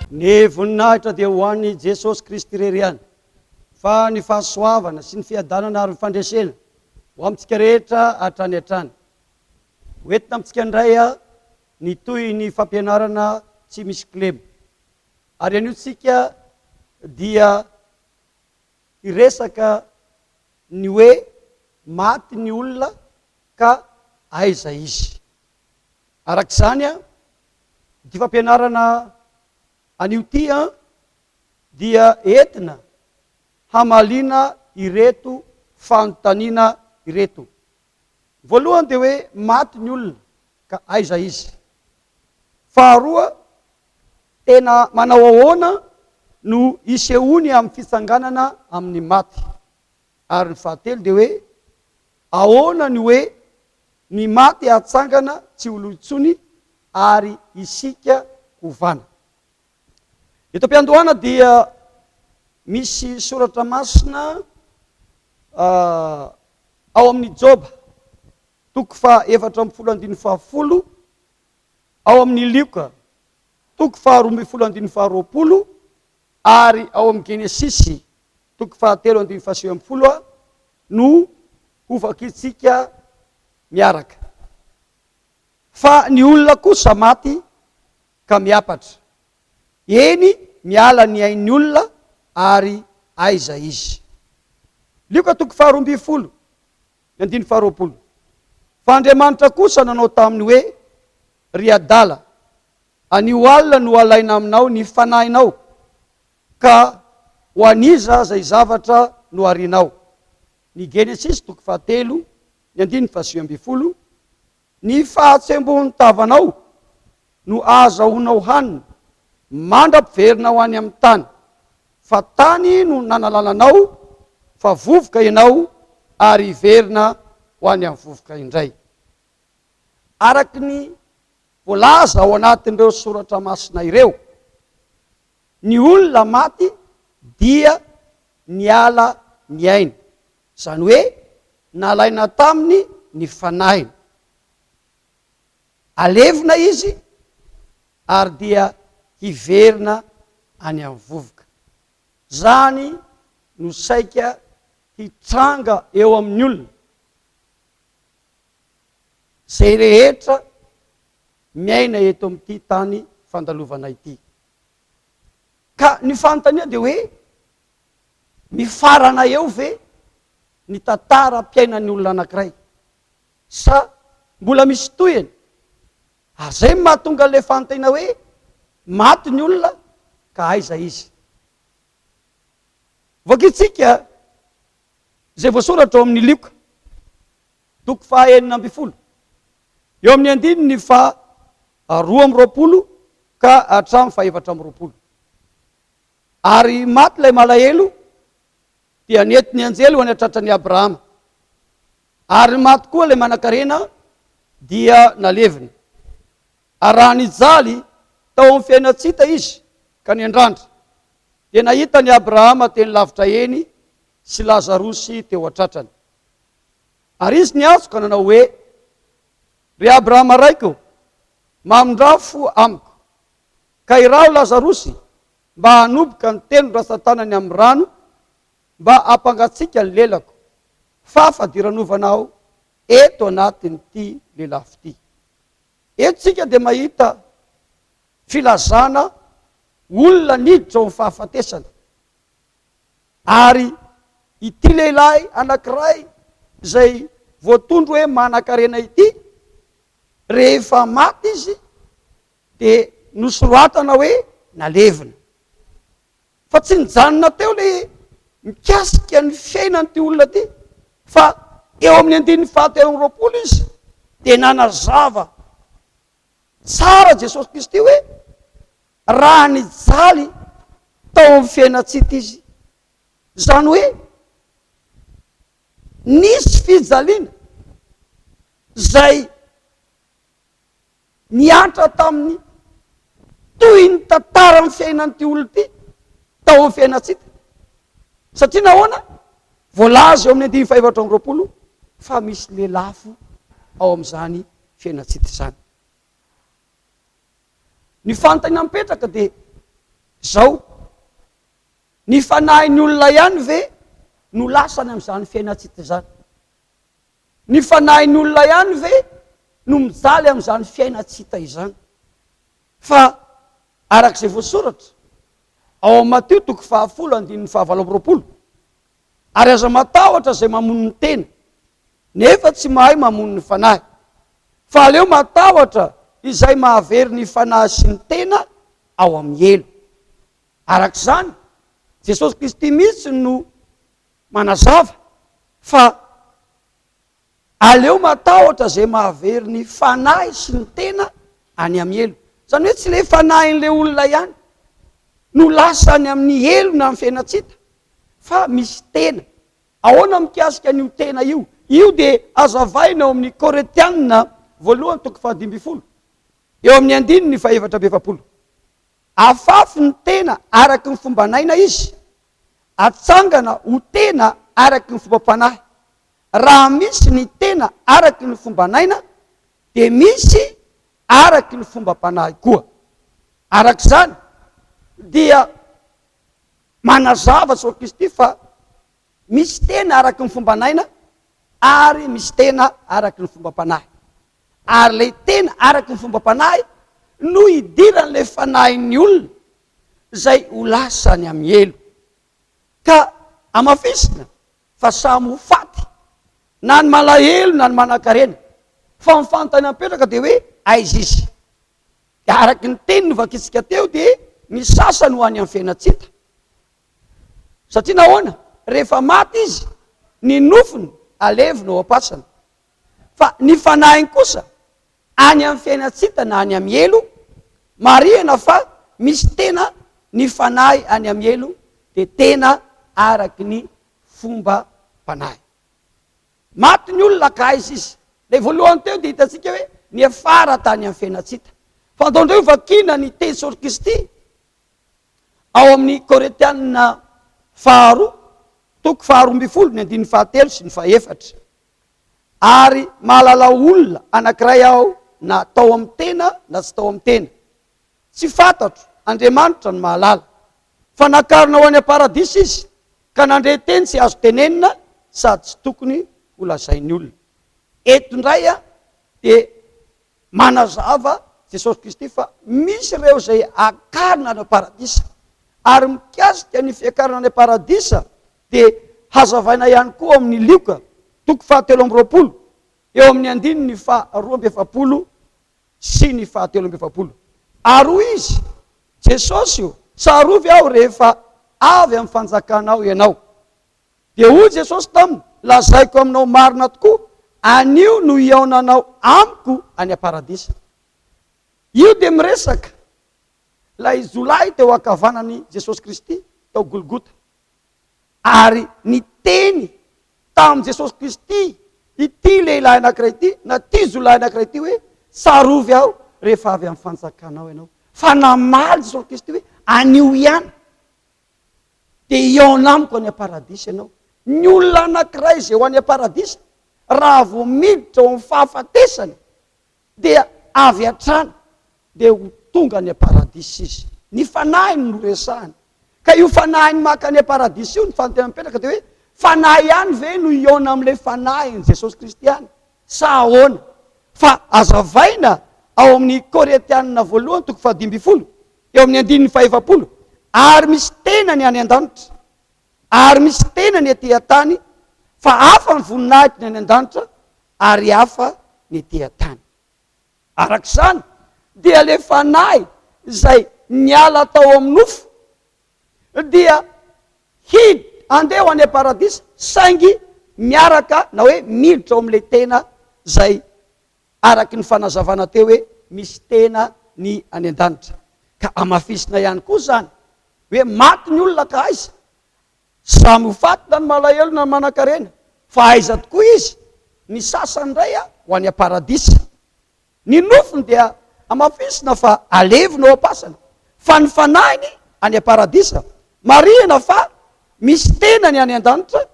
Ny voninahitra dia ho an'i Jesosy Kristy irery ihany, fa ny fahasoavana sy ny fiadanana ary ny fandresena ho amintsika rehetra hatrany hatrany. Ho entina amintsika indray ny tohin'ny fampianarana tsy misy kilema. Ary anio tsika dia hiresaka ny hoe maty ny olona ka aiza izy. Araka izany, ity fampianarana anio ity dia entina hamaliana ireto fanontaniana ireto. Ny voalohany dia hoe, maty ny olona, ka aiza izy? Faharoa, tena manao ahoana no isehoany amin'ny fitsanganana amin'ny maty? Ary ny fahatelo dia hoe, ahoana ny hoe Ny maty hatsangana tsy ho lo intsony ary isika hovana. Eto am-piandohana dia misy soratra masina ao amin'ny Joba, toko faha efatra ambin'ny folo andininy faha folo, ao amin'ny Lioka, toko faha roa ambin'ny folo andininy faha roapolo ary ao amin'ny Genesisy, toko fahatelo andininy fahasivy ambin'ny folo no hovakintsika miaraka. Fa ny olona kosa maty ka miapatra. Eny, miala ny ain'ny olona ary aiza izy. Lioka toko faharoa ambin'ny folo, ny andininy faharoapolo. Fa Andriamanitra kosa nanao taminy hoe, Ry adala, anio alina no halaina aminao ny fanahinao, Ka ho an'iza izay zavatra no harinao? Ny Genesisy toko fahatelo, ny andininy fahasivy ambin'ny folo, Ny fahatsembohan'ny tavanao no ahazahoanao hanina mandra-piverina ho any amin'ny tany, fa tany no nanalana anao, fa vovoka ianao ary hiverina ho any amin'ny vovoka indray. Araka ny voalaza ao anatin'ireo soratra masina ireo, Ny olona maty dia niala ny ainy, izany hoe nalaina taminy ny fanahiny. Alevina izy ary dia hiverina any amin'ny vovoka. Izany no saika hitranga eo amin'ny olona. Izay rehetra miaina eto amin'ity tany fandalovana ity. Ka ny fanontaniana dia hoe, mifarana eo ve ny tantaram-piainan'ny olona anankiray? Sa mbola misy tohiny? Ary izay no mahatonga an'ilay fanontaniana hoe, maty ny olona ka aiza izy? Vakintsika izay voasoratra ao amin'ny Lioka, toko faha enina ambin'ny folo. Eo amin'ny andininy faha roa amby roapolo ka hatramin'ny faha efatra amby roapolo. Ary maty ilay malahelo, dia nety ny anjely ho any an-tratran'i Abrahama. Ary maty koa ilay manankarena, dia nalevina. Ary raha nijaly tao amin'ny fiainan-tsita izy ka niandrandra, dia nahita an'i Abrahama teny lavitra eny sy Lazarosy teo an-tratrany. Ary izy niantso ka nanao hoe, Ry Abrahama raiko ô, mamindrà fo amiko, ka iraho Lazarosy mba hanoboka ny tenon-dratsan-tanany amin'ny rano, mba hampangatsiaka ny lelako, fa fadiranovana aho eto anatin'ity lelafo ity. Eto isika dia mahita filazana olona niditra ao amin'ny fahafatesana. Ary ity lehilahy anankiray izay voatondro hoe manankarena ity, rehefa maty izy dia nosoratana hoe nalevina. Fa tsy nijanona teo ilay mikasika ny fiainan'ity olona ity, fa eo amin'ny andininy fahatelo amby roapolo izy dia nanazava tsara Jesosy Kristy hoe Raha nijaly tao amin'ny fiainan-tsita izy, izany hoe nisy fijaliana izay niantra tamin'ny toy ny tantaran'ny fiainan'ity olona ity tao amin'ny fiainan-tsita. Satria nahoana? Voalaza eo amin'ny andininy fahefatra amby roapolo fa misy lelafo ao amin'izany fiainan-tsita izany. Ny fanontaniana mipetraka dia izao, ny fanahin'ny olona ihany ve no lasany amin'izany fiainantsika izany? Ny fanahin'ny olona ihany ve no mijaly amin'izany fiainantsika izany? Fa araka izay voasoratra ao amin'ny Matio toko fahafolo andininy fahavalo amby roapolo, Ary aza matahotra izay mamono ny tena, nefa tsy mahay mamono ny fanahy, fa aleo matahotra izay mahavery ny fanahy sy ny tena ao amin'ny helo. Araka izany, Jesosy Kristy mihitsy no manazava fa. Aleo matahotra izay mahavery ny fanahy sy ny tena any amin'ny helo. Izany hoe tsy ilay fanahin'ilay olona ihany no lasa any amin'ny helo na amin'ny fiainan-tsita fa misy tena. Ahoana mikasika an'io tena io? Io dia hazavaina ao amin'ny Korintiana voalohany toko fahadimy ambin'ny folo, eo amin'ny andininy fahefatra amby efapolo. Afafy ny tena araka ny fomban'aina izy, atsangana ho tena araka ny fombam-panahy. Raha misy ny tena araky ny fomban'aina dia misy araky ny fombam-panahy koa. Araka izany dia manazava Soa Kristy fa misy tena araky ny fomban'aina ary misy tena araky ny fombam-panahy. Ary ilay tena araky ny fombam-panahy no hidiran'ilay fanahin'ny olona izay ho lasa any amin'ny helo. Ka hamafisina fa samy ho faty na ny malahelo na ny manankarena fa ny fanontaniana mipetraka dia hoe aiza izy? dia araka ny teny novakintsika teo dia ny sasany ho any amin'ny fiainantsita satria nahoana? rehefa maty izy ny nofony alevina ao am-pasana Fa ny fanahiny kosa, any amin'ny fiainan-tsita na any amin'ny helo, marihana fa misy tena ny fanahy any amin'ny helo dia tena araky ny fombam-panahy. Maty ny olona ka aiza izy? Ilay voalohany teo dia hitantsika hoe niafara tany amin'ny fiainan-tsita. Fantaonareo vakiana ny teny Saoly Kristy ao amin'ny Korintiana faharoa, toko faharoa ambin'ny folo, ny andininy fahatelo sy ny fahefatra. ary mahalala olona anankiray aho na tao amin'ny tena na tsy tao amin'ny tena. Tsy fantatro, Andriamanitra no mahalala. Fa nakarina ho any am-paradisa izy ka nandre teny tsy azo tenenina sady tsy tokony ho lazain'ny olona. Eto indray dia manazava Jesosy Kristy fa misy ireo izay akarina any am-paradisa. Ary mikasika ny fiakarana any am-paradisa dia hazavaina ihany koa ao amin' ny Lioka toko fahatelo amby roapolo, eo amin' ny andininy faharoa amby efapolo sy ny fahatelo amby efapolo. Ary hoy izy, Jesosy ô, tsarovy aho rehefa avy amin' ny fanjakanao ianao. Dia hoy Jesosy taminy, Lazaiko aminao marina tokoa, anio no hihaonanao amiko any am-paradisa. Io dia miresaka ilay jiolahy teo ankavanany Jesosy Kristy tao Golgota. Ary niteny tamin'i Jesosy Kristy ity lehilahy anankiray ity, na ity jiolahy anankiray ity hoe, Tsarovy aho rehefa avy amin'ny fanjakanao ianao. Fa namaly Jesosy Kristy hoe, Anio ihany dia hihaona amiko any am-paradisa ianao. Ny olona anankiray izay ho any am-paradisa, raha vao miditra ao amin'ny fahafatesana, dia avy hatrany dia ho tonga any am-paradisa izy. Ny fanahiny no resahina. Ka io fanahiny maka any am-paradisa io, ny fanontaniana mipetraka dia hoe, fanahy ihany ve no hihaona amin'ilay fanahin'i Jesosy Kristy any sa ahoana? Fa hazavaina ao amin'ny Korintiana voalohany toko fahadimy ambin'ny folo, eo amin'ny andininy fahaefapolo, ary misy tenany any an-danitra. Ary misy tena ny ety an-tany, fa hafa ny voninahitry ny any an-danitra, ary hafa ny ety an-tany. Araka izany, dia ilay Fanahy izay niala tao amin'ny nofo dia hid andeha ho any am-paradisa, saingy miaraka na hoe miditra ao amin'ilay tena izay araka ny fanazavana teo hoe misy tena ny any an-danitra. Ka hamafisina ihany koa izany hoe maty ny olona ka aiza? Samy ho faty na ny malahelo na ny manankarena. Fa aiza tokoa izy? Ny sasany indray ho any am-paradisa. Ny nofony dia hamafisina fa alevina ao am-pasana. Fa ny fanahiny any am-paradisa. Marihina fa misy tena ny any an-danitra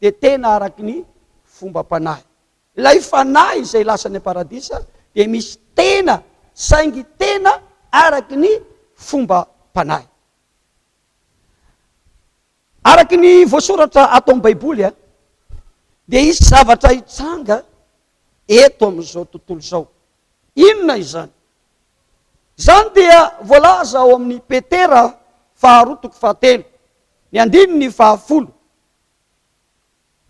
dia tena araka ny fombam-panahy. Ilay fanahy izay lasa any am-paradisa dia misy tena saingy tena araky ny fombam-panahy. Araky ny voasoratra ato amin'ny Baiboly dia hisy zavatra hitranga eto amin'izao tontolo izao. Inona izany? Izany dia voalaza ao amin'ny Petera faharoa toko fahatelo, ny andininy fahafolo.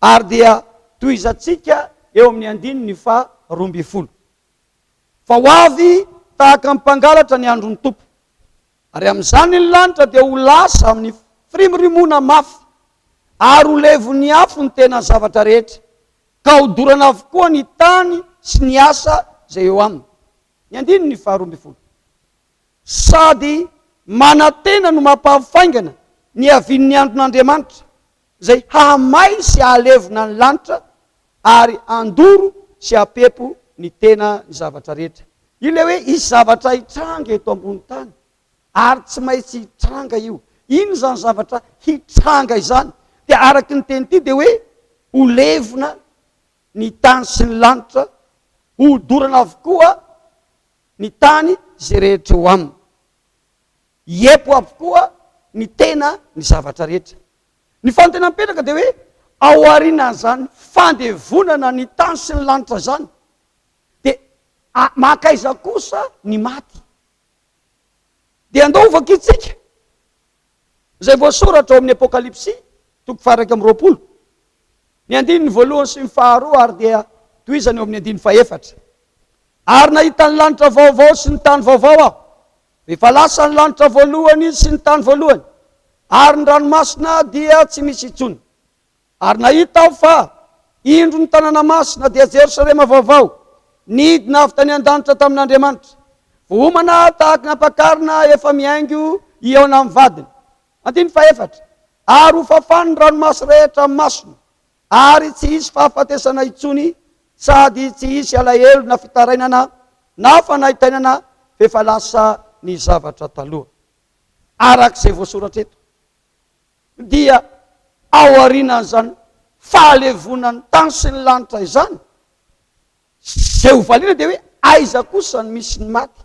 Ary dia tohizantsika eo amin'ny andininy faha roa ambin'ny folo. Fa ho avy tahaka ny mpangalatra ny andron'ny Tompo, ary amin'izany ny lanitra dia ho lasa amin'ny firimorimoana mafy, ary ho levon'ny afo ny tena zavatra rehetra, ka ho dorana avokoa ny tany sy ny asa izay eo aminy. Ny andininy faha roa ambin'ny folo. sady manantena no mampahafaingana ny havian'ny andron'Andriamanitra, izay hahamay sy hahalevona ny lanitra ary handoro sy hampepo ny tena ny zavatra rehetra. Ilay hoe hisy zavatra hitranga eto ambony tany ary tsy maintsy hitranga io. Inona izany zavatra hitranga izany? Dia araka ity teny ity dia hoe ho levona ny tany sy ny lanitra, ho dorana avokoa ny tany izay rehetra eo aminy. Hiepo avokoa ny tena ny zavatra rehetra. Ny fanontena mipetraka dia hoe, ao aorianan'izany fandevonana ny tany sy ny lanitra izany dia mankaiza kosa ny maty? Dia andao ho vakintsika. Izay voasoratra ao amin'ny Apokalypsy, toko faha-iraika amby roapolo, ny andininy voalohany sy ny faharoa ary dia tohizany eo amin'ny andininy faha-efatra. Ary nahita ny lanitra vaovao sy ny tany vaovao aho, fa efa lasa ny lanitra voalohany sy ny tany voalohany, ary ny ranomasina dia tsy misy intsony. Ary nahita aho fa, indro, ny tanàna masina, dia Jerosalema vaovao, nidina avy tany an-danitra tamin'Andriamanitra, vohomana tahaka ny ampakarina efa mihaingo hihaona amin'ny vadiny. Andininy fahefatra. Ary ho fafany ny ranomaso rehetra amin'ny masony, ary tsy hisy fahafatesana intsony, sady tsy hisy alahelo na fitarainana na fanaintainana, f'efa lasa ny zavatra taloha. Araka izay voasoratra eto. dia ao aorianan'izany fahalevonan'ny tany sy ny lanitra izany, izay ho valiana dia hoe aiza kosa no misy ny maty?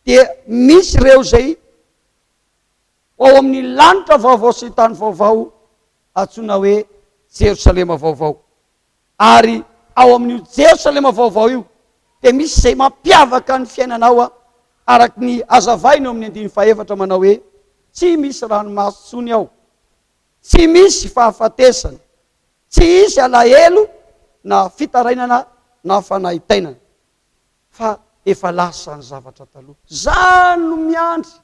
Dia misy ireo izay ao amin'ny lanitra vaovao sy ny tany vaovao antsoina hoe Jerosalema vaovao. Ary ao amin'io Jerosalema vaovao io dia misy izay mampiavaka ny fiainanao araka ny hazavainy ao amin'ny andininy fahefatra manao hoe, Tsy misy ranomaso intsony ao, tsy misy fahafatesana, tsy hisy alahelo na fitarainana na fanaintainana, fa efa lasa ny zavatra taloha. Izaho no miandry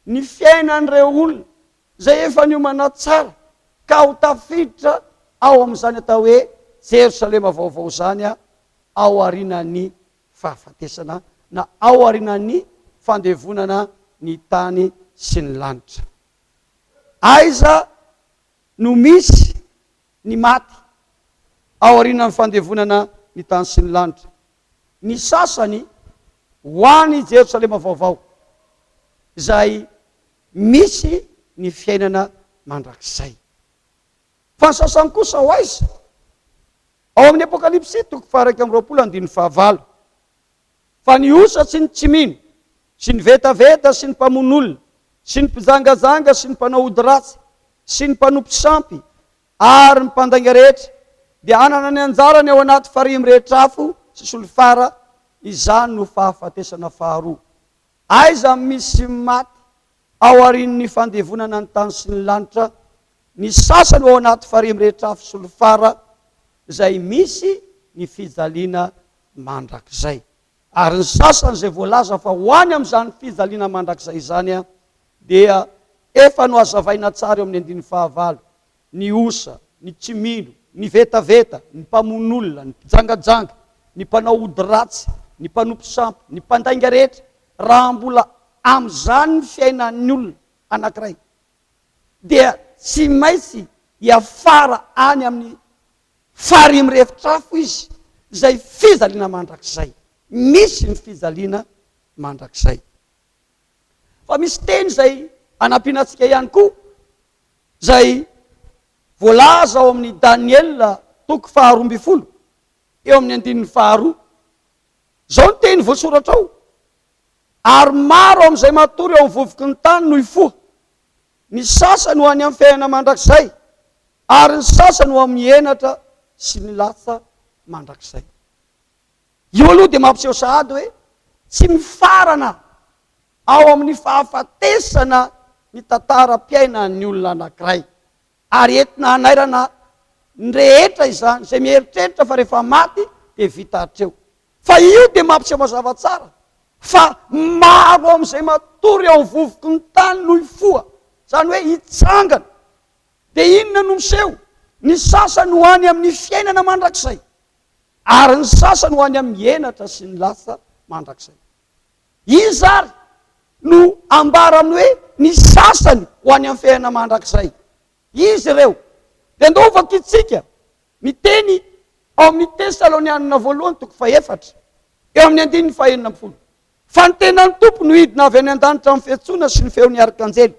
ny fiainan'ireo olona izay efa niomana tsara ka ho tafiditra ao amin'izany atao hoe Jerosalema vaovao izany ao aorianan'ny fahafatesana na ao aorianan'ny fandevonana ny tany sy ny lanitra. Aiza no misy ny maty ao aorianan'ny fandevonana ny tany sy ny lanitra? Ny sasany ho any Jerosalema vaovao, izay misy ny fiainana mandrakizay. Fa ny sasany kosa ho aiza? Ao amin'ny Apokalypsy toko faha-iraika amby roapolo andininy fahavalo. Fa ny osa sy ny tsy mino, sy ny vetaveta, sy ny mpamono olona, sy ny mpijangajanga, sy ny mpanao ody ratsy, sy ny mpanompo sampy, ary ny mpandainga rehetra, dia hanana ny anjarany ao anaty farihy mirehitra afo sy solifara, izany no fahafatesana faharoa. Aiza misy maty ao aorian'ny fandevonana ny tany sy ny lanitra? Ny sasany ao anaty farihy mirehitra afo sy lofara izay misy ny fijaliana mandrakizay. Ary ny sasany izay voalaza fa ho any amin'izany fijaliana mandrakizay izany dia efa nohazavaina tsara eo amin'ny andininy fahavalo. ny osa, ny tsy mino, ny vetaveta, ny mpamono olona, ny mpijangajanga, ny mpanao ody ratsy, ny mpanompo sampy, ny mpandainga rehetra, raha mbola amin'izany ny fiainan'ny olona anankiray, dia tsy maintsy hiafara any amin'ny farihy mirefotra afo izy, izay fijaliana mandrakizay. Misy ny fijaliana mandrakizay. Fa misy teny izay anampiana antsika ihany koa. izay voalaza ao amin'ny Daniela toko faharoa ambin'ny folo eo amin'ny andininy faharoa. Izao ny teny voasoratra ao, ary maro amin'izay matory ao amin'ny vovoky ny tany no hifoha, ny sasany ho any amin'ny fiainana mandrakizay, ary ny sasany ho amin'ny henatra sy ny latsa mandrakizay. Io aloha dia mampiseho sahady hoe tsy mifarana ao amin'ny fahafatesana ny tantaram-piainan'ny olona anankiray, ary entina hanairana ny rehetra izany izay mieritreritra fa rehefa maty dia vita hatreo. Fa io dia mampiseho mazava tsara fa maro amin'izay matory ao amin'ny vovoky ny tany no hifoha, izany hoe hitsangana. Dia inona no miseho? Ny sasany ho any amin'ny fiainana mandrakizay, ary ny sasany ho any amin'ny henatra sy ny lasa mandrakizay. Iza ary no ambara amin'ny hoe ny sasany ho any amin'ny fiainana mandrakizay? Iza ireo? Dia ndao ho vakintsika ny teny ao amin'ny Tesalonianina voalohany toko fahefatra, eo amin'ny andininy fahenina ambin'ny folo. Fa ny tenan'ny Tompo no hidina avy any an-danitra amin'ny fiantsoana sy ny feon'ny arkanjely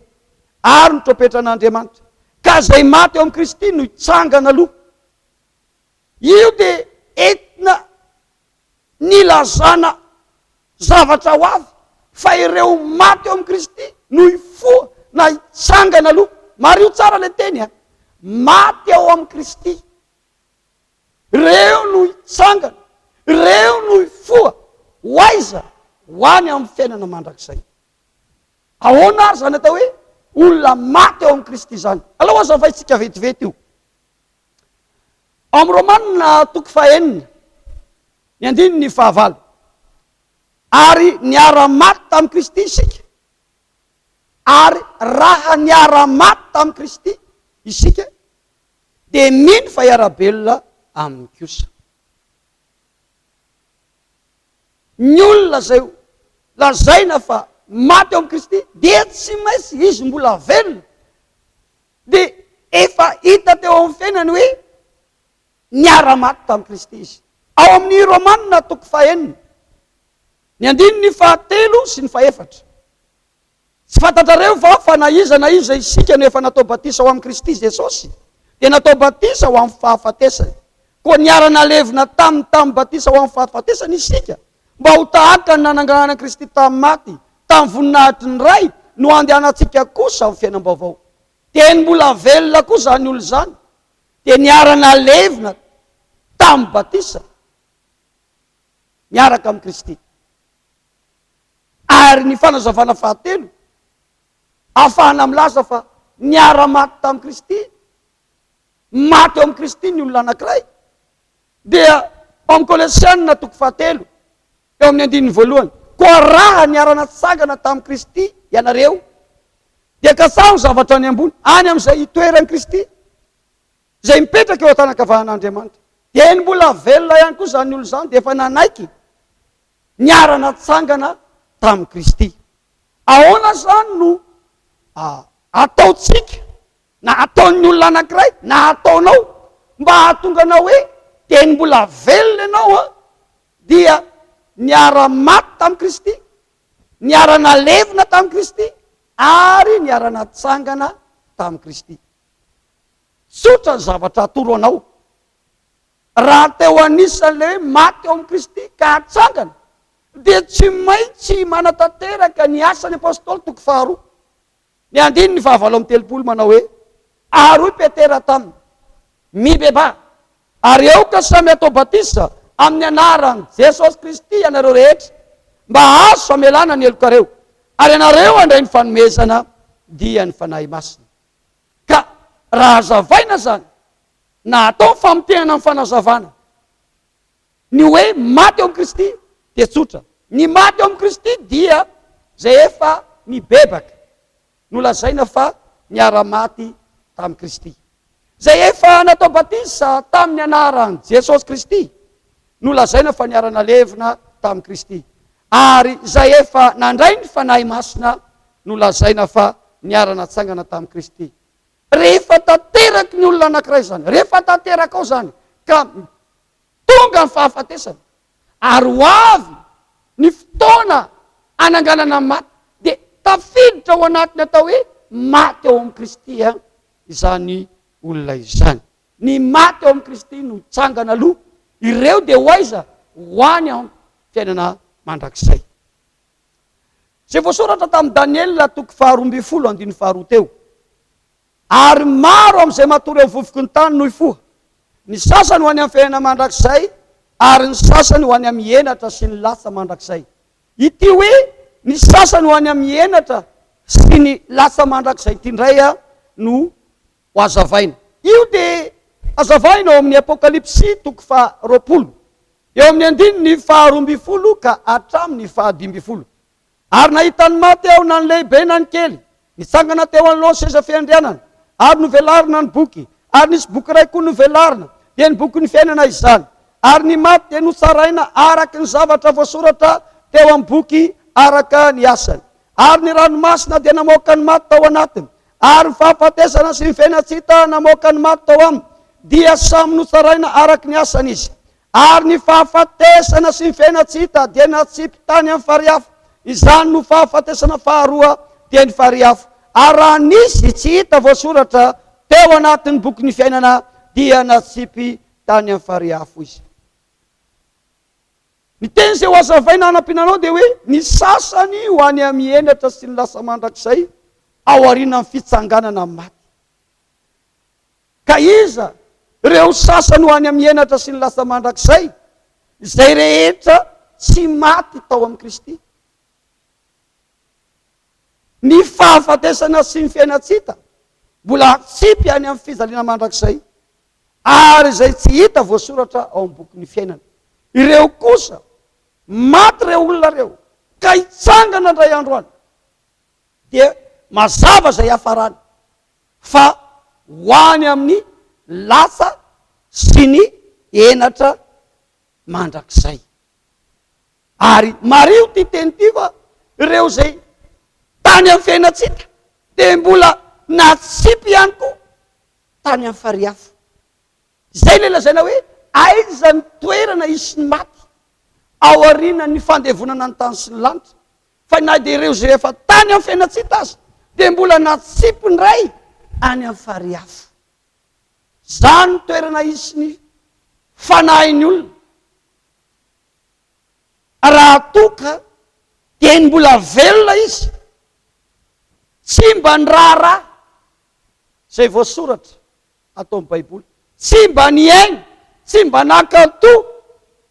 ary ny trompetran'Andriamanitra, ka izay maty ao amin'i Kristy no hitsangana aloha. Io dia entina Nilazana zavatra ho avy fa ireo maty eo amin'i Kristy no hifoha na hitsangana aloha. Mariho tsara ilay teny a! Maty ao amin'i Kristy, ireo no hitsangana, ireo no hifoha. Ho aiza? Ho any amin'ny fiainana mandrakizay. Ahoana ary izany atao hoe olona maty ao amin'i Kristy izany? Alao hazavaintsika vetivety io. Ao amin'ny Romanina toko fahenina, ny andininy fahavalo, Ary niara-maty tamin'i Kristy isika, ary raha niara-maty tamin'i Kristy isika, dia mino fa hiara-belona aminy kosa. Ny olona izay lazaina fa maty ao amin'i Kristy dia tsy maintsy izy mbola velona Dia efa hita teo amin'ny fiainany hoe niara-maty tamin'i Kristy izy. Ao amin'ny Romana toko fahenina, ny andininy fahatelo sy ny fahefatra. Tsy fantatrareo va fa na iza na iza isika no efa natao batisa ao amin'i Kristy Jesosy, dia natao batisa ho amin'ny fahafatesany? Koa niara-nalevina taminy tamin'ny batisa ho amin'ny fahafatesany isika. mba ho tahaka ny nananganana an'i Kristy tamin'ny maty tamin'ny voninahitry ny Ray no handehanantsika kosa amin'ny fiainam-baovao. Teny mbola velona koa izany olona izany, dia niara-nalevina tamin'ny batisa miaraka amin'i Kristy. Ary ny fanazavana fahatelo, afahana milaza fa niara-maty tamin'i Kristy, maty eo amin'i Kristy ny olona anankiray, dia ao amin'ny Kolosiana toko fahatelo, eo amin'ny andininy voalohany, Koa raha niara-natsangana tamin'i Kristy ianareo, dia kasaho ny zavatra any ambony, any amin'izay itoeran'i Kristy, izay mipetraka eo an-tanan-kavanan'Andriamanitra. Dieny mbola velona ihany koa izany olona izany, dia efa nanaiky niara-natsangana tamin'i Kristy. Ahoana izany no ataontsika? na ataon'ny olona anankiray na ataonao mba hahatonga anao hoe teny mbola velona ianao an, dia niara-maty tamin'i Kristy, niara-nalevina tamin'i Kristy ary niara-natsangana tamin'i Kristy. Tsotra ny zavatra atoro anao. Raha teo anisan'ilay hoe maty ao amin'i Kristy ka hatsangana, dia tsy maintsy manatanteraka ny asan'ny apostoly toko faharoa. Ny andininy fahavalo amby telopolo manao hoe, Ary hoy Petera taminy, Mibebaha, ary aoka samy hatao batisa amin'ny anaran'i Jesosy Kristy ianareo rehetra, mba hahazo famelana ny helokareo, ary ianareo handray ny fanomezana dian'ny Fanahy Masina. Ka raha hazavaina izany, na atao ny famotehana amin'ny fanazavana, Ny hoe maty eo amin'i Kristy dia tsotra. Ny maty eo amin'i Kristy dia izay efa nibebaka, no lazaina fa niara-maty tamin'i Kristy. Izay efa natao batisa tamin'ny anaran'i Jesosy Kristy no lazaina fa niara-nalevina tamin'i Kristy. Ary izay efa nandray ny Fanahy Masina no lazaina fa niara-natsangana tamin'i Kristy. Rehefa tanteraky ny olona anankiray izany, rehefa tanterakao izany, ka tonga ny fahafatesana ary ho avy ny fotoana hananganana ny maty dia tafiditra ao anatin'ny atao hoe maty ao amin'i Kristy izany olona izany. Ny maty ao amin'i Kristy no hitsangana aloha, ireo dia ho aiza? Ho any amin'ny fiainana mandrakizay. Izay voasoratra tamin'i Daniela toko faharoa ambin'ny folo andininy faharoa teo. Ary maro amin'izay matory amin'ny vovoky ny tany no hifoha, ny sasany ho any amin'ny fihena mandrakizay, ary ny sasany ho any amin'ny henatra sy ny latsa mandrakizay. Ity hoe ny sasany ho any amin'ny henatra sy ny latsa mandrakizay ity indray no ho azavaina. Io dia hazavaina ao amin'ny Apokalypsy toko faharoapolo, eo amin'ny andininy faharoa ambin'ny folo ka hatramin'ny fahadimy ambin'ny folo. Ary nahita ny maty aho, na ny lehibe na ny kely, nitsangana teo anoloan'ny seza fiandrianana, ary novelarina ny boky, ary nisy boky iray koa novelarina, dia ny bokin'ny fiainana izany. Ary ny maty dia notsaraina araka ny zavatra voasoratra teo amin'ny boky araka ny asany. Ary ny ranomasina dia namoaka ny maty tao anatiny, ary ny fahafatesana sy ny fiainan-tsy hita namoaka ny maty tao aminy, dia samy notsaraina araka ny asany izy. Ary ny fahafatesana sy ny fiainan-tsy-hita dia natsipy tany amin'ny farihy afo. Izany no fahafatesana faharoa teny farihy afo. Ary raha nisy tsy hita voasoratra teo anatin'ny bokin'ny fiainana dia natsipy tany amin'ny farihy afo izy. Ny teny izay hohazavaina hanampiana anao dia hoe, ny sasany ho any amin'ny henatra sy ny lasa mandrakizay aorianan'ny fitsanganana amin'ny maty. Ka iza ireo sasany ho any amin'ny henatra sy ny lasa mandrakizay? Izay rehetra tsy maty tao amin'i Kristy. Ny fahafatesana sy ny fiainan-tsita mbola atsipy any amin'ny fijaliana mandrakizay, ary izay tsy hita voasoratra ao amin'ny bokin'ny fiainana. Ireo kosa, maty ireo olona ireo, ka hitsangana indray andro any, dia mazava izay hiafarany. fa ho any amin'ny lasa sy ny henatra mandrakizay. Ary mariho ity teny ity fa ireo izay tany amin'ny fiainantsika dia mbola natsipy ihany koa tany amin'ny farihy hafa. Izay ilay lazaina hoe aiza ny toerana hisy ny maty aorianan'ny fandevonana ny tany sy ny lanitra. fa na dia ireo izay efa tany amin'ny fiainantsita aza dia mbola natsipy indray any amin'ny farihy afo. Izany no toerana hisy ny fanahin'ny olona. Raha toa ka dia ny mbola velona izy, tsy mba ny raharaha izay voasoratra ato amin'ny Baiboly, tsy mba nihaino, tsy mba nankatò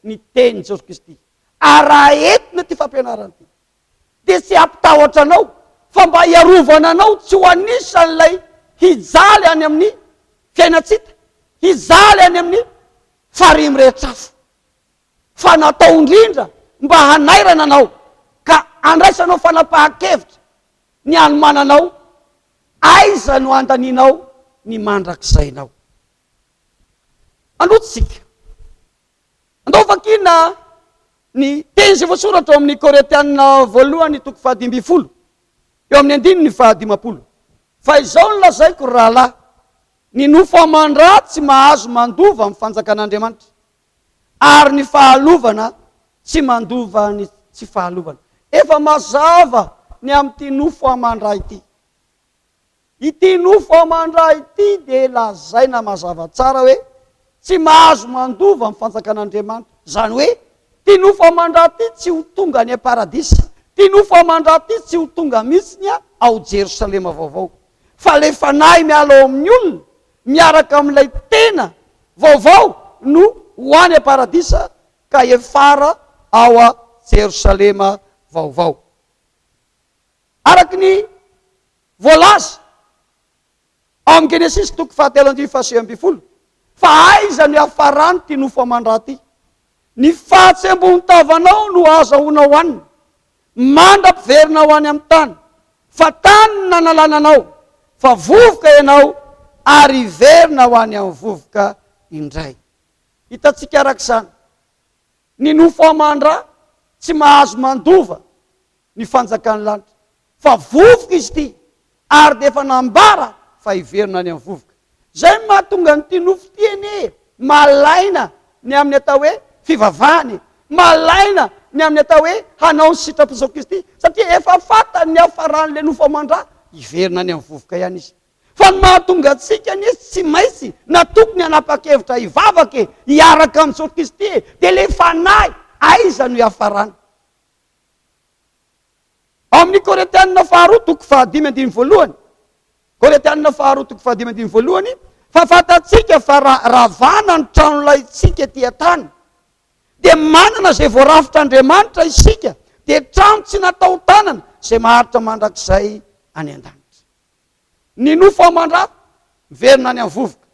ny tenin'i Jesosy Kristy. ary raha entina ity fampianarana ity dia tsy hampitahotra anao fa mba hiarovana anao tsy ho anisan'ilay hijaly any amin'ny fiainantsita hijaly any amin'ny farihy mirehetra afo fa natao indrindra mba hanairana anao ka andraisanao fanapahan-kevitra ny anomananao aiza no andanianao ny mandrakizainao anotsika Andao vakina ny teny izay voasoratra ao amin'ny Korintiana voalohany toko fahadimy ambin'ny folo, eo amin'ny andininy fahadimampolo. Fa izao no lazaiko, ry rahalahy, ny nofo aman-dra tsy mahazo mandova ny fanjakan'Andriamanitra, ary ny fahalovana tsy mandova ny tsy fahalovana. Efa mazava ny amin'ity nofo aman-dra ity. Ity nofo aman-dra ity dia lazaina mazava tsara hoe tsy mahazo mandova ny fanjakan'Andriamanitra. Izany hoe, ity nofo aman-dra ity tsy ho tonga any am-paradisa, ity nofo aman-dra ity tsy ho tonga mihitsiny ao Jerosalema vaovao. Fa ilay fanahy miala ao amin'ny olona miaraka amin'ilay tena vaovao no ho any am-paradisa ka hiafara ao Jerosalema vaovao. Araka ny voalaza ao amin'ny Genesisy toko fahatelo andininy fahasivy ambin'ny folo, Fa aiza no hiafaran'ity nofo aman-dra ity? Ny fahatsembon-tavanao no ahazahoanao hanina, mandra-piverina ho any amin'ny tany, fa tany no nanalana anao, fa vovoka ianao, ary hiverina ho any amin'ny vovoka indray. Hitantsika araka izany, ny nofo aman-dra tsy mahazo mandova ny fanjakan'ny lanitra, fa vovoka izy ity, ary dia efa nambara fa hiverina any amin'ny vovoka. Izay no mahatonga an'ity nofo ity anie malaina ny amin'ny atao hoe fivavahana e! Malaina ny amin'ny atao hoe hanao ny sitrapon'i Jesoa Kristy, satria efa fantany ny hafaran'ilay nofo aman-dra, hiverina any amin'ny vovoka ihany izy. Fa ny mahatonga antsika anie izy tsy maintsy na tokony hanapa-kevitra hivavaka e, hiaraka amin'i Jesoa Kristy e, dia ilay fanahy aiza no hiafarany? Ao amin'ny Korintianina faharoa toko fahadimy andininy voalohany, Korintianina faharoa toko fahadimy andininy voalohany, fa fantatsika fa raha ravana ny tranolaintsika ety an-tany, dia manana izay voarafotr'Andriamanitra isika, dia trano tsy natao tanana, izay maharitra mandrakizay any an-danitra. ny nofo aman-dra miverina any amin'ny vovoka.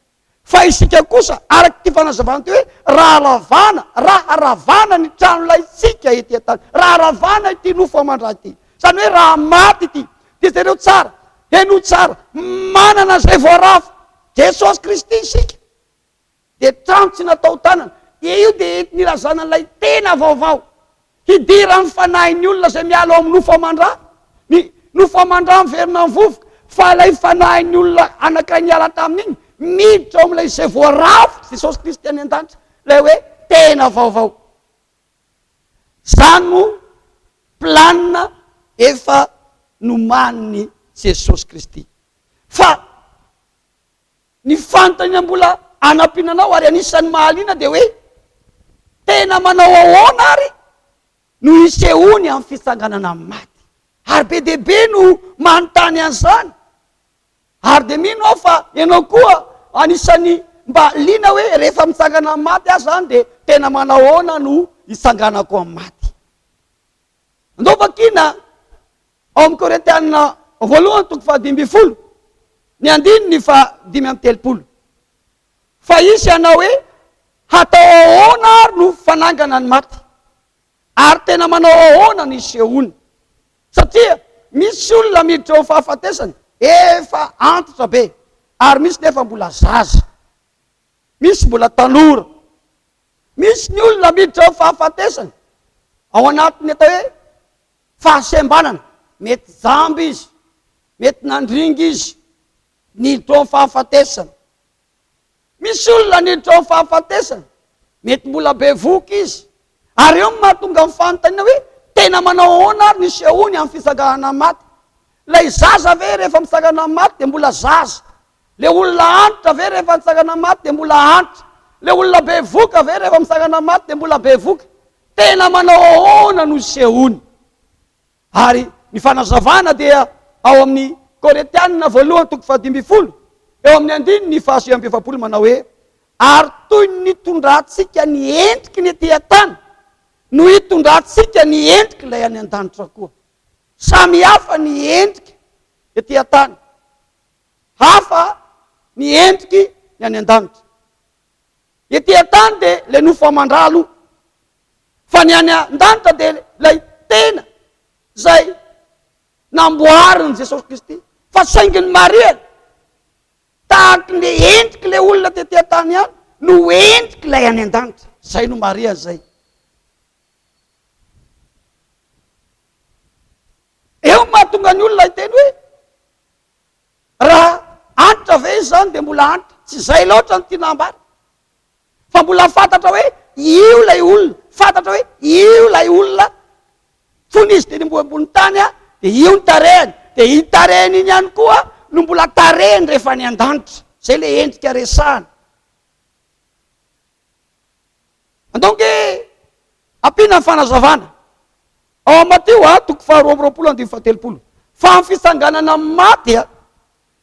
Fa isika kosa, araka ity fanazavana ity hoe, raha ravana, raha ravana ny tranolaintsika ety an-tany, raha ravana ity nofo aman-dra ity, izany hoe raha maty ity, dia jereo tsara, henoy tsara, manana izay voaravo, Jesosy Kristy isika. Dia tantsina tao tanana. Dia io dia entin' i Razana ilay tena vaovao. Hidiran' ny fanahin' ny olona izay miala ao amin' ny nofo aman-dra. Ny nofo aman-dra miverina amin' ny vovoka. Fa ilay fanahin' ny olona anankiray niala tamin' iny, miditra ao amin' ilay izay voarafitr' Jesosy Kristy any an-danitra. Ilay hoe tena vaovao. Izany no planina efa nomanin' i Jesosy Kristy. Fa Ny fanontaniana mbola hanampiana anao ary anisan'ny mahaliana dia hoe, Tena manao ahoana àry no hisehoany amin'ny fitsanganana amin'ny maty? Ary be dia be no manontany an'izany. Ary dia mino aho fa ianao koa anisan'ny mba liana hoe rehefa mitsangana amin'ny maty aho izany dia tena manao ahoana no hitsanganako amin'ny maty. Andao vakina ao amin'ny Korintiana voalohany toko fahadimy ambin'ny folo ny andininy fahadimy amby telopolo. Fa hisy hanao hoe, hatao ahoana ary no fanangana ny maty? Ary tena manao ahoana ny hisehoany? Satria misy olona miditra ho fahafatesana efa antitra be, ary misy nefa mbola zaza. Misy mbola tanora. Misy ny olona miditra ao fahafatesana ao anatin'ny atao hoe fahasembanana. Mety jamba izy, mety nandringa izy, niditra ao amin'ny fahafatesana. Misy olona niditra ao amin'ny fahafatesana, mety mbola be voky izy. Ary eo no mahatonga amin'ny fanontaniana hoe tena manao ahoana ary ny sehoany amin'ny fitsanganana amin'ny maty. Ilay zaza ve rehefa mitsangana amin'ny maty dia mbola zaza Le olona antitra ve rehefa nitsangana maty dia mbola antitra? Le olona bevoka ve rehefa mitsangana maty dia mbola bevoka? Tena manao ahoana no isehoany? Ary ny fanazavana dia ao amin'ny Koretianina voalohany toko fahadimy ambin'ny folo, eo amin'ny andininy fahasivy amby efapolo manao hoe, Ary toy ny nitondrantsika ny endriky ny ety an-tany no hitondrantsika ny endrik'ilay any an-danitra koa. Samy hafa ny endrika ety an-tany. hafa ny endriky ny any an-danitra. Ety an-tany dia ilay nofo aman-dra aloha, fa ny any an-danitra dia ilay tena izay namboarin'i Jesosy Kristy. Fa saingy ny marihany, tahaky ny endriky ilay olona tety an-tany ihany no endriky ilay any an-danitra. Izay no marihany izay. Eo mahatonga ny olona hiteny hoe Raha Hanitra ve izany dia mbola Hanitra? Tsy izay loatra no tiana ambara. Fa mbola fantatra hoe io ilay olona, fantatra hoe io ilay olona fony izy dia nimboha ambony tany dia io ny tarehiny, dia iny tarehiny iny ihany koa no mbola tarehiny rehefa any an-danitra. Izay ilay endrika resahana. Andao ange ampiana ny fanazavana ao amin'ny Matio a, toko faharoa amby roapolo andininy fahatelopolo, fa amin'ny fitsanganana amin'ny maty a,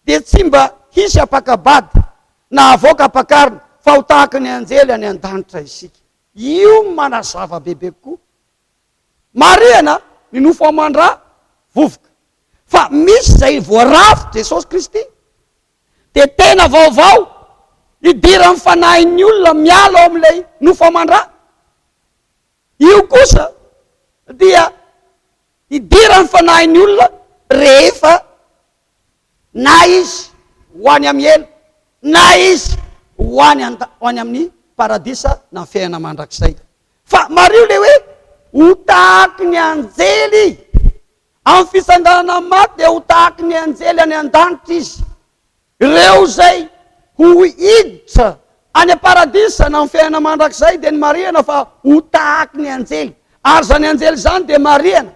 dia tsy mba hisy hampaka-bady na havoaka hampakarina, fa ho tahaka ny anjely any an-danitra isika. Io no manazava bebe kokoa. Marihana ny nofo aman-dra vovoka, fa misy izay voarafitry Jesosy Kristy dia tena vaovao idiran'ny fanahin'ny olona miala ao amin'ilay nofo aman-dra. Io kosa dia idiran'ny fanahin'ny olona rehefa na izy ho any amin'ny helo na izy ho any amin'ny paradisa na fiainana mandrakizay. Fa mariho ilay hoe ho tahaky ny anjely Amin'ny fisanganana amin'ny maty dia ho tahaky ny anjely any an-danitra izy. Ireo izay ho hiditra any am-paradisa na amin'ny fiainana mandrakizay dia ny marihana fa ho tahaky ny anjely. Ary izany anjely izany dia marihana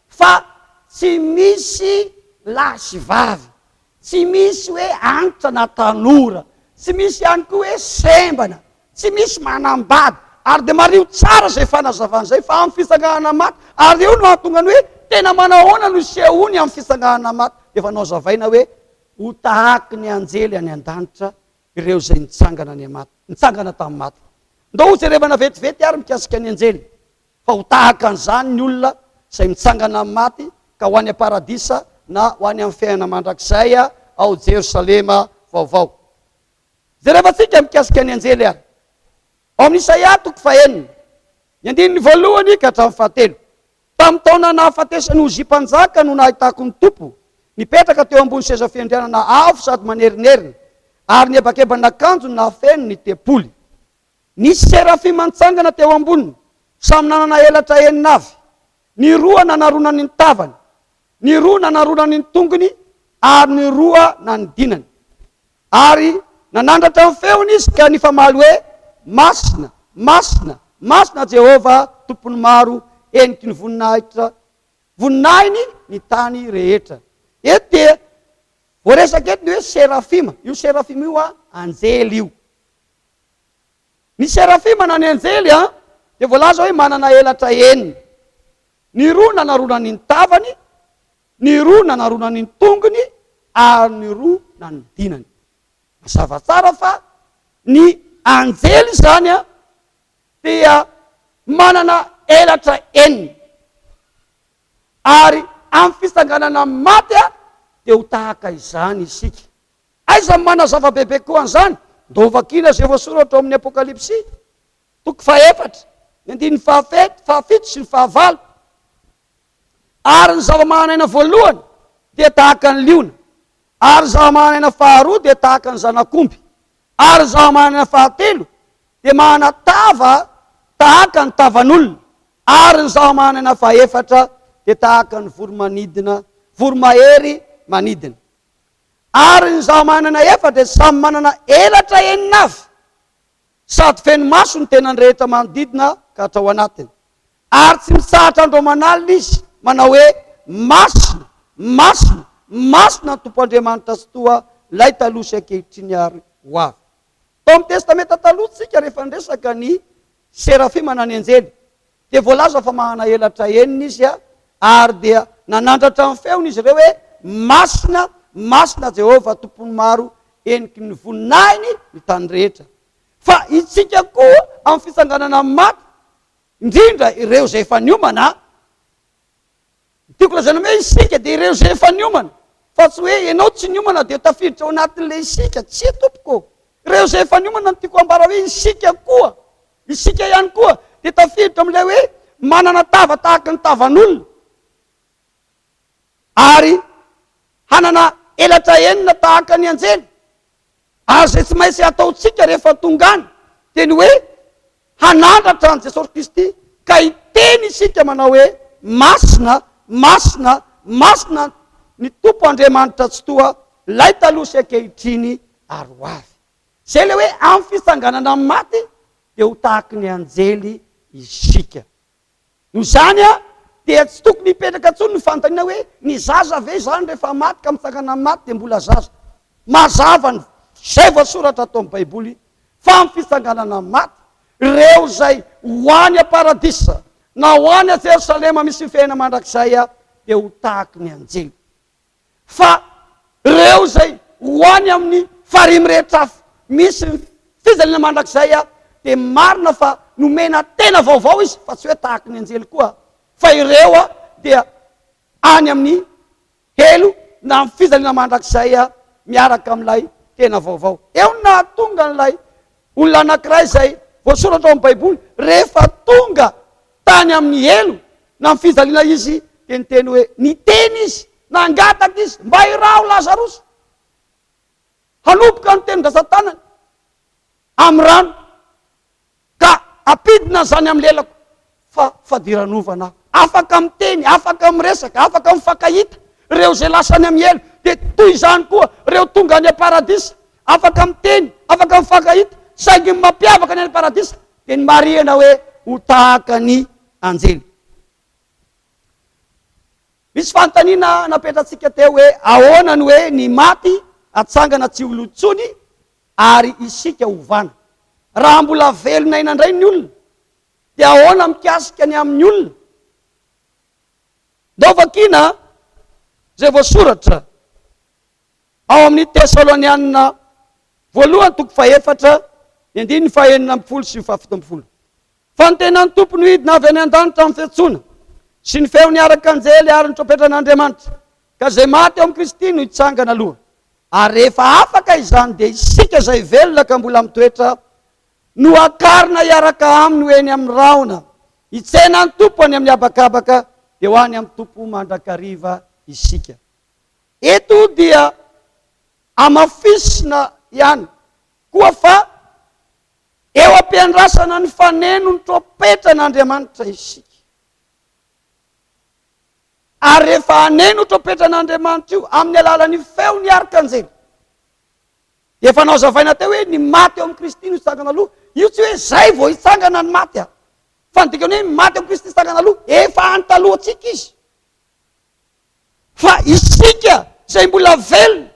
fa tsy misy lahy sy vavy. Tsy misy hoe antitra na tanora, tsy misy ihany koa hoe sembana, tsy misy manambady, ary dia mariho tsara izay fanazavana izay fa amin'ny fitsanganana maty, ary eo no hahatonga ny hoe tena manahoana no hisehoany amin'ny fitsanganana maty, dia efa nohazavaina hoe ho tahaky ny anjely any an-danitra ireo izay nitsangana any maty, nitsangana tamin'ny maty. Ndao hojerevana vetivety ary mikasika ny anjely. Fa ho tahaka an'izany ny olona izay mitsangana amin'ny maty ka ho any am-paradisa na ho any amin'ny fiainana mandrakizay ao Jerosalema Vaovao. Jerevantsika mikasika ny anjely ary ao amin'ny Isaia toko fahenina, ny andininy voalohany ka hatramin'ny fahatelo. Tamin'ny taona nahafatesan'i Ozia Mpanjaka no nahitako ny Tompo nipetraka teo ambony seza fiandrianana avo sady manerinerina ary nihebakeban'akanjony nahafeno ny tempoly. Nisy serafima nitsangana teo amboniny, samy nanana elatra enina avy. Ny roa nanaronany ny tavany, ny roa nanaronany ny tongony ary ny roa nanidinany. Ary nanandratra ny feony izy ka nifamaly hoe, Masina, masina, masina Jehovah, Tompon'ny maro, heniky ny voninahitra, voninahiny ny tany rehetra. Eto dia voaresaka eto ny hoe serafima. Io serafima io anjely io. Ny serafima na ny anjely dia voalaza hoe manana elatra enina. Ny roa nanaronany ny tavany, ny roa nanaronany ny tongony ary ny roa nanidinany. Mazava tsara fa ny anjely izany dia manana elatra enina. Ary amin'ny fitsanganana amin'ny maty dia ho tahaka izany isika. Aiza no manazava bebe kokoa an'izany? Ndao vakiana izay voasoratra ao amin'ny Apokalypsy, toko fahefatra, ny andininy fahafito, fahafito sy ny fahavalo. Ary ny zava-manan'aina voalohany dia tahaka ny liona, ary ny zava-manan'aina faharoa dia tahaka ny zanak'omby, ary ny zava-manan'aina fahatelo dia manana tava tahaka ny tavan'olona, ary ny zava-manan'aina fahefatra dia tahaka ny voromanidina, voromahery manidina. ary ny zavamanana efa dia samy manana elatra enina avy sady feno maso ny tenany rehetra manodidina ka hatrao anatiny ary tsy mitsahatra andro aman'alina izy manao hoe masina masina masina ny tompo Andriamanitra Tsitoha lay taloha sy ankehitriny ary ho avy Tao amin'ny Testamenta Taloha tsika rehefa niresaka ny serafima na ny anjely dia voalaza fa mahana elatra enina izy ary dia nanandratra ny feony izy ireo hoe Masina, Masina Jehovah Tompon'ny maro heniky ny voninahiny ny tany rehetra. Fa itsika koa amin'ny fitsanganana amin'ny maty, indrindra ireo izay efa niomana, Ny tiako lazaina hoe isika dia ireo izay efa niomana, fa tsy hoe ianao tsy niomana dia tafiditra ao anatin'ilay isika, tsia tompoko ô! Ireo izay efa niomana no tiako hambara hoe isika koa, isika ihany koa dia tafiditra amin'ilay hoe manana tava tahaka ny tavan'olona, ary hanana elatra enina tahaka ny anjely, Ary izay tsy maintsy hataontsika rehefa tonga any dia ny hoe hanandratra an'i Jesosy Kristy ka hiteny isika manao hoe, Masina, masina, masina ny Tompo Andriamanitra Tsitoha, ilay taloha sy ankehitriny ary ho avy. Izay ilay hoe amin'ny fitsanganana amin'ny maty dia ho tahaky ny anjely isika. Noho izany dia tsy tokony hipetraka intsony ny fanontaniana hoe, ny zaza ve izany rehefa maty ka mitsangana amin'ny maty dia mbola zaza? Mazava ny izay voasoratra ato amin'ny Baiboly fa amin'ny fitsanganana amin'ny maty, ireo izay ho any am-paradisa na ho any Jerosalema misy ny fiainana mandrakizay dia ho tahaky ny anjely. fa reo izay ho any amin'ny farihy mirehitra afo misy ny fijaliana mandrakizay a, dia marina fa nomena tena vaovao izy fa tsy hoe tahaky ny anjely koa fa ireo a dia any amin'ny helo na amin'ny fijaliana mandrakizay a miaraka amin'ilay tena vaovao. Eo no nahatonga an'ilay Olona anankiray izay voasoratra ao amin'ny Baiboly, rehefa tonga tany amin'ny helo na amin'ny fijaliana izy, dia niteny hoe, niteny izy, nangataka izy, mba iraho Lazarosy, hanomboka ny tenin-drazan-tanany amin'ny rano, ka hampidina an'izany amin'ny lelako. fa fadiranovana afaka miteny, afaka miresaka, afaka mifankahita, ireo izay lasa any amin'ny helo, dia toy izany koa ireo tonga any am-paradisa, afaka miteny, afaka mifankahita, saingy ny mampiavaka ny any am-paradisa dia ny marihana hoe ho tahaka ny anjely. Misy fanontaniana napetratsika teo hoe ahoana ny hoe ny maty atsangana tsy ho lo intsony ary isika hovana. Raha mbola velona aina indray ny olona Dia ahoana mikasika ny amin'ny olona? Ndao vakiana izay voasoratra ao amin'ny Tesalonianina voalohany toko fahefatra, ny andininy fahenina ambin'ny folo sy ny fahafito ambin'ny folo. Fa ny tenan'ny Tompo nohidina avy any an-danitra amin'ny fiantsoana sy ny feon'ny arak'anjely ary ny trompetran'Andriamanitra, ka izay maty ao amin'i Kristy no hitsangana aloha. Ary rehefa afaka izany dia isika izay velona ka mbola mitoetra Nohakarina hiaraka aminy ho eny amin'ny rahona, hitsena ny Tompo any amin'ny habakabaka, dia ho any amin'ny Tompo mandrakariva isika. Eto dia hamafisina ihany koa fa eo am-piandrasana ny faneno ny trompetran'Andriamanitra isika. Ary rehefa haneno trompetran'Andriamanitra io amin'ny alalan'ny feon'ny arkanjely, Efa nozavaina teo hoe ny maty ao amin'i Kristy no hitsangana aloha. Io tsy hoe izay vao hitsangana ny maty an! Fa ny dikany hoe maty ao amin'i Kristy hitsangana aloha, efa any talohantsika izy. Fa isika izay mbola velona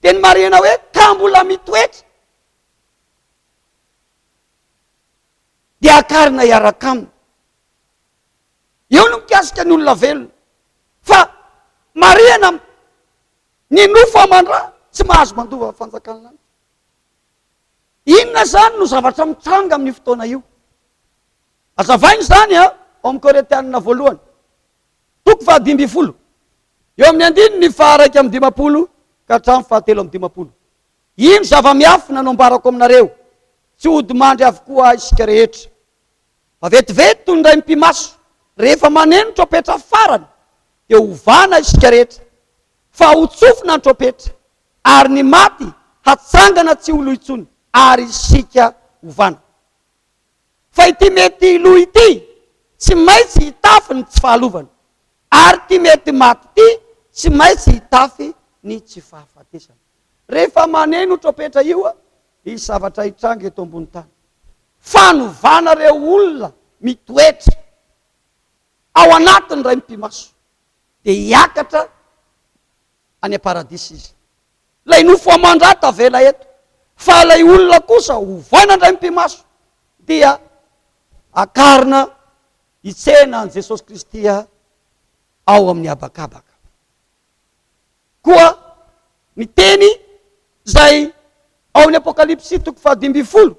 dia ny marihina hoe ka mbola mitoetra dia hakarina hiaraka aminy. Eo no mikasika ny olona velona. Fa marihina Ny nofo aman-dra tsy mahazo mandova fanjakan'ny lanitra. Inona izany no zavatra mitranga amin'io fotoana io? Azavaina izany a, ao amin'ny Korintianina voalohany, toko fahadimy ambin'ny folo, eo amin'ny andininy faharaika amby dimampolo ka hatramin'ny fahatelo amby dimampolo. Ino zava-miafina no ambarako aminareo? Tsy hodimandry avokoa isika rehetra. Fa vetivety toy ny raim-pimaso rehefa maneno trompetra farany, dia hovana isika rehetra, fa hotsofina ny trompetra, ary ny maty hatsangana tsy ho lo intsony, ary isika hovana. Fa ity mety lo ity tsy maintsy hitafy ny tsy fahalovana, ary ity mety maty ity tsy maintsy hitafy ny tsy fahafatesana. Rehefa maneno trompetra io, Hisy zavatra hitranga eto ambony tany. Fanovana ireo olona mitoetra ao anatin' ny Ray mipi-maso, dia hiakatra any am-paradisa izy. Ilay nofo aman-dra tavela eto, fa ilay olona kosa ovaina ny Ray mipi-maso, dia akarina hitsena an'i Jesosy Kristy ao amin'ny habakabaka. Koa ny teny izay ao amin'ny Apokalypsy toko fahadimy ambin'ny folo,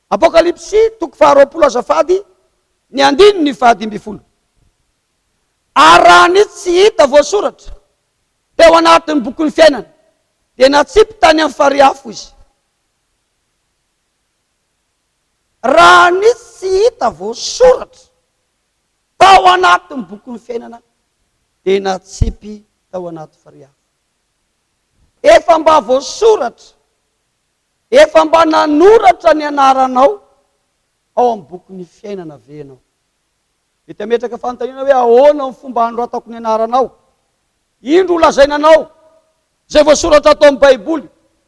Apokalypsy toko faharoapolo azafady, ny andininy fahadimy ambin'ny folo. Ary raha ny tsy hita voasoratra teo anatin'ny bokin'ny fiainana dia natsipy tany amin'ny farihy afo izy. Raha ny tsy hita voasoratra. Tao anatin'ny bokin'ny fiainana dia natsipy tao anaty fariafo. Efa mba voasoratra, efa mba nanoratra ny anaranao ao amin'ny bokin'ny fiainana ve ianao? Mety hametraka fanontaniana hoe ahoana ny fomba hanoratako ny anaranao? Indro ho lazaina anao izay voasoratra ato amin'ny Baiboly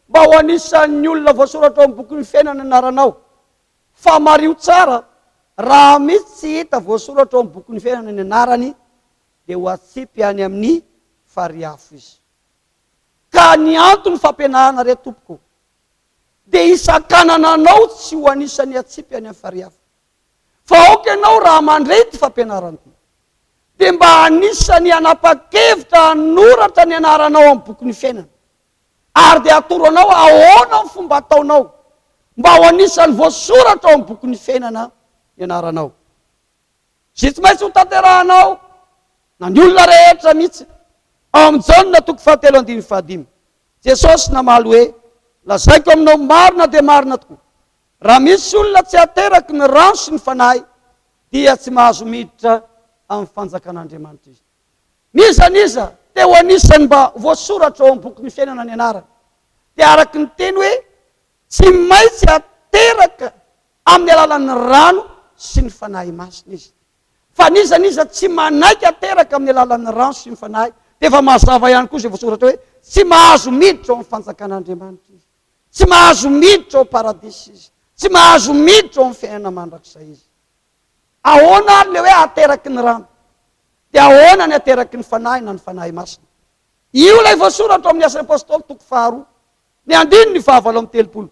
mba ho anisan'ny olona voasoratra ao amin'ny bokin'ny fiainana ny anaranao. Fa mariho tsara, raha misy tsy hita voasoratra ao amin'ny bokin'ny fiainana ny anarany, dia ho atsipy any amin'ny farihy afo izy. Ka ny anton'ny fampianarana re tompoko, dia hisakanana anao tsy ho anisan'ny atsipy any amin'ny farihy afo. Fa aoka ianao raha mandre ity fampianarana ity, dia mba anisan'ny hanapa-kevitra hanoratra ny anaranao amin'ny bokin'ny fiainana, ary dia hatoro anao ahoana ny fomba hataonao mba ho anisan'ny voasoratra ao amin'ny bokin'ny fiainana ny anaranao. Izay tsy maintsy hotanterahanao na ny olona rehetra mihitsy. Ao amin'ny Jaona toko fahatelo andininy fahadimy, Jesosy namaly hoe, Lazaiko aminao marina dia marina tokoa, raha misy olona tsy ateraky ny rano sy ny Fanahy dia tsy mahazo miditra amin'ny fanjakan'Andriamanitra izy. N'iza n'iza te ho anisan'ny mba voasoratra ao amin'ny bokin'ny fiainana ny anarany, dia araka ny teny hoe tsy maintsy ateraka amin'ny alalan'ny rano sy ny Fanahy Masina izy. Fa n'iza n'iza tsy manaiky ateraka amin'ny alalan'ny rano sy ny Fanahy, dia efa mazava ihany koa izay voasoratra hoe tsy mahazo miditra ao amin'ny fanjakan'Andriamanitra izy, tsy mahazo miditra ao Paradisa izy, tsy mahazo miditra ao amin'ny fiainana mandrakizay izy. Ahoana ary le hoe ateraky ny rano? Dia ahoana ny ateraky ny Fanahy na ny Fanahy Masina? Io ilay voasoratra ao amin'ny Asan'ny Apostoly toko faharoa, ny andininy fahavalo amby telopolo.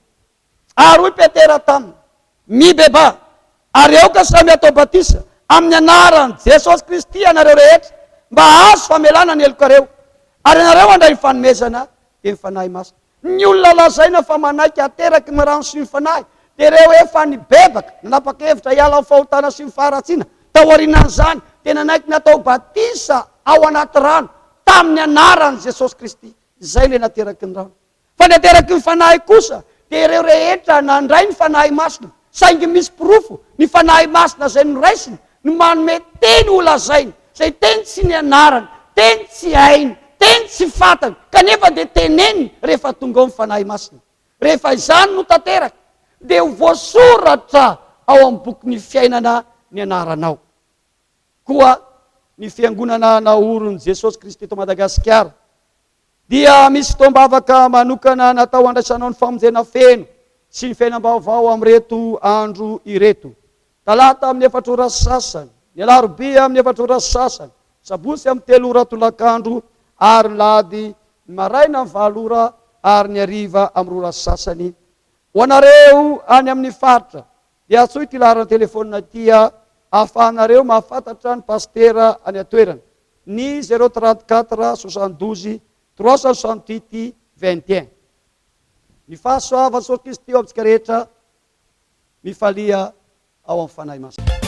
Ary hoy Petera taminy, Mibebaha, ary aoka samy hatao batisa amin'ny anaran'i Jesosy Kristy ianareo rehetra mba hahazo famelana ny helokareo, ary ianareo handray ny fanomezana, dia ny Fanahy Masina. Ny olona lazaina fa manaiky hateraky ny rano sy ny fanahy dia ireo efa nibebaka, nanapa-kevitra hiala amin'ny fahotana sy ny faharatsiana. Taorianan'izany, dia nanaiky natao batisa ao anaty rano tamin'ny anaran'i Jesosy Kristy. Izay ilay nateraky ny rano. Fa ny ateraky ny fanahy kosa dia ireo rehetra nandray ny Fanahy Masina. Saingy misy porofo ny Fanahy Masina izay noraisiny no manome teny holazainy, izay teny tsy nianarany, teny tsy hainy, teny tsy fantany, kanefa dia teneniny rehefa tonga ao ny Fanahy Masina. Rehefa izany no tanteraka, dia ho voasoratra ao amin'ny bokin'ny fiainana ny anaranao. Koa ny Fiangonana naorin'i Jesosy Kristy eto Madagasikara, dia misy fotoam-bavaka manokana natao handraisanao ny famonjena feno sy ny fiainam-baovao amin'ireto andro ireto, Talata amin'ny efatra ora sy sasany, ny Alarobia amin'ny efatra ora sy sasany, Sabotsy amin'ny telo ora tolakandro, ary ny Lahady, ny maraina amin'ny valo ora ary ny hariva amin'ny roa ora sy sasany. Ho anareo any amin'ny faritra Dia antsoy ity laharan'ny telefonina ity ahafahanareo mahafantatra ny pasitera any an-toerana, ny 034 72 368 21. Ny fahasoavan'i Jesosy Kristy ho amintsika rehetra mifalia ao amin'ny Fanahy Masina.